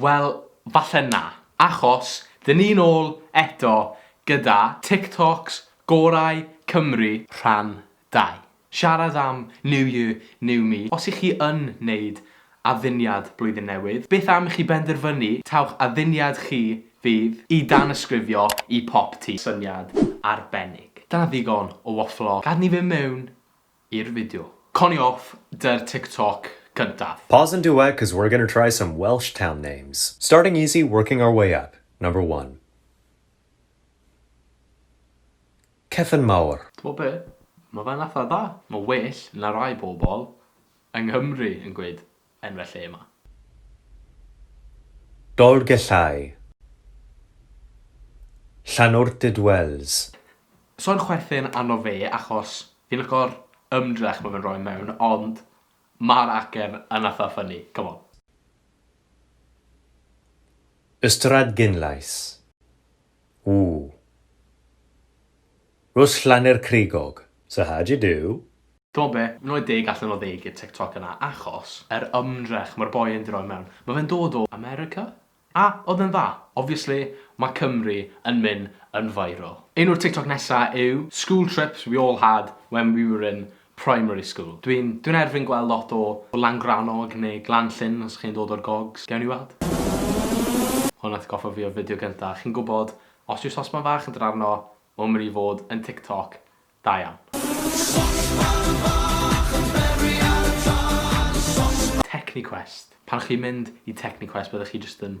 Wel, falle na, achos dyn ni'n ôl eto gyda TikToks gorau Cymru. Rhan dau. Siarad am New Year, New Me. Os y'ch chi yn neud adduniad blwyddyn newydd, beth am i chi benderfynu taw'ch adduniad chi fydd i danysgrifio i Pop Tee? Syniad arbennig. Dyna ddigon o wafflo. Gad ni fynd mewn i'r fideo. Connie off dy'r tiktok cyntaf. Pause and duet cause we're gonna try some Welsh town names. Starting easy working our way up, number one. Cefn Mawr. T'mod be? Ma' fe'n atha da. Ma' well na rai bobl yng Nghymru yn gweud. Enw'r lle yma. Dolgellau. Llanwrtyd Wells. Sa'n chwerthin arno fe achos fi'n licio'r ymdrech ma fe'n roi mewn ond ma'r acen yn itha funny, come on. Ystradgynllais. Ww. Rws Llaner Crigog. So how do you do? T'mo be, rhoi deg allan o ddeg i'r TikTok yna achos yr ymdrech ma'r boi yn 'di roi mewn. Ma fe'n dod o America? A odd e'n dda? Obviously ma Cymru yn myn yn viral. Enw'r TikTok nesa yw School trips we all had when we were in Primary school. Dwi'n, dwi'n erfyn gweld lot o o Langrannog neu Glanllyn os chi'n dod o'r gogs. Gewn ni weld. Hwn atgoffa fi o'r fideo gynta. Chi'n gwbod, os yw sosban fach yn dod arno, mae'n mynd i fod yn TikTok da iawn. Sosban fach yn beri ar y tân, sosban. Techniquest. Pan chi'n mynd i Techniquest byddech chi jyst yn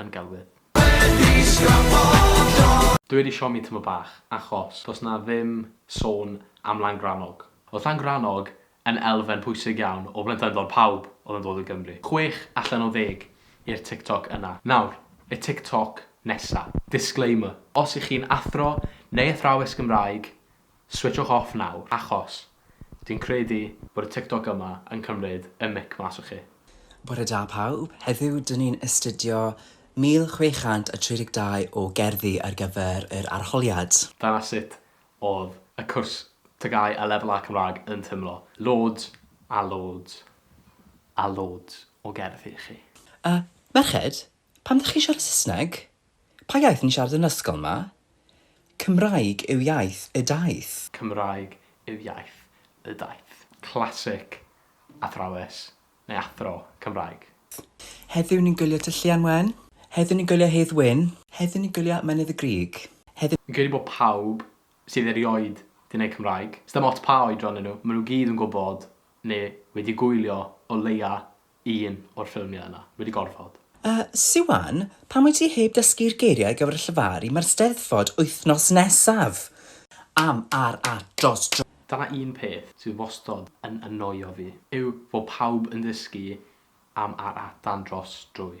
yn gelwydd. Dw i wedi siomi tymor bach achos does 'na ddim sôn am Langrannog. Oedd Langrannog yn elfen pwysig iawn o blentyndod pawb oedd yn dod o Gymru. Chwech allan o ddeg i'r TikTok yna. Nawr, y TikTok nesa. Disclaimer, Os y'ch chi'n athro neu athrawes Gymraeg, Switshwch off nawr achos dwi'n credu bod y TikTok yma yn cymryd y mic mas o chi. Bore da pawb, heddiw dyn ni'n astudio 1632 o gerddi ar gyfer yr arholiad. Dyna sut oedd y cwrs TGAU a Lefel A Cymraeg yn teimlo. Loads a loads a loads o gerddi i chi. A, merched, Pam dach chi'n siarad Saesneg? Pa iaith ni'n siarad yn yr ysgol 'ma? Cymraeg yw iaith y daith. Cymraeg yw iaith y daith. Classic athrawes neu athro Cymraeg. Heddiw ni'n gwylio Tŷ Llian Wen. Heddiw ni'n gwylio Hedd Wyn. Heddiw ni'n gwylio Mynydd y Grug. Heddiw. Fi'n credu bod pawb sydd erioed 'di neud Cymraeg, sdim ots pa oedran 'dyn nhw, ma' nhw gyd yn gwbod neu wedi gwylio o leia un o'r ffilmiau yna. Mae 'di gorfod. Yy, Siwan, pam wyt ti heb dysgu'r geiriau ar gyfer y llefaru, mae'r Steddfod wythnos nesaf! Am, ar, at, dros, drwy. Dyna un peth sydd wastod yn annoio fi, yw fod pawb yn dysgu am, ar, at, dan, dros, drwy.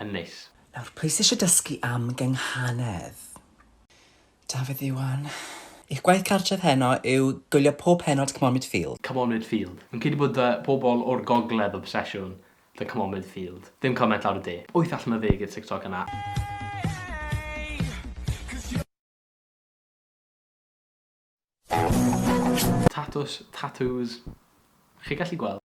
yn neis. Nawr, pwy sy eisiau dysgu am gynghanedd? Dafydd Iwan. Eich gwaith cartref heno yw gwylio pob pennod C'momid Field. C'momid Field. Fi'n credu bod y pobl o'r gogledd obsesiwn 'da C'momid Field. Ddim cymaint lawr y de. Wyth allan o ddeg i'r TikTok yna. Tatws, tatŵs, chi gallu gweld.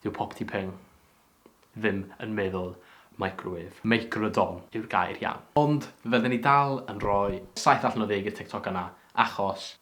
Dyw popty ping ddim yn meddwl microwave. Microdon yw'r gair iawn. Ond fydden ni dal yn rhoi saith allan o ddeg i'r TikTok yna achos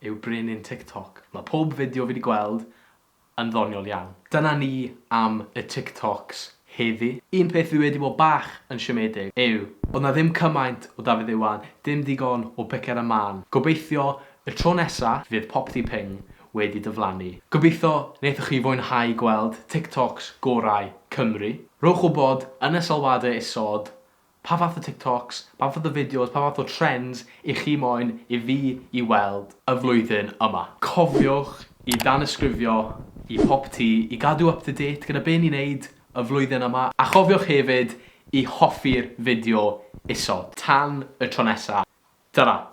yw brenin TikTok. Mae pob fideo fi 'di gweld yn ddoniol iawn. Dyna ni am y TikToks heddi. Un peth fi wedi bod bach yn siomedig yw bod 'na ddim cymaint o Dafydd Iwan, dim digon o Picker a Man. Gobeithio y tro nesa fydd Popty Ping wedi diflannu. Gobeithio wnaethoch chi fwynhau gweld TikToks gorau Cymru. Rhowch wybod yn y sylwadau isod Pa fath o TikToks, pa fath o fideos, pa fath o trends i chi moyn i fi i weld y flwyddyn yma? Cofiwch i danysgrifio i Pop Tee i gadw up to date gyda be ni'n wneud y flwyddyn yma, a chofiwch hefyd i hoffi'r fideo isod. Tan y tro nesa', tara!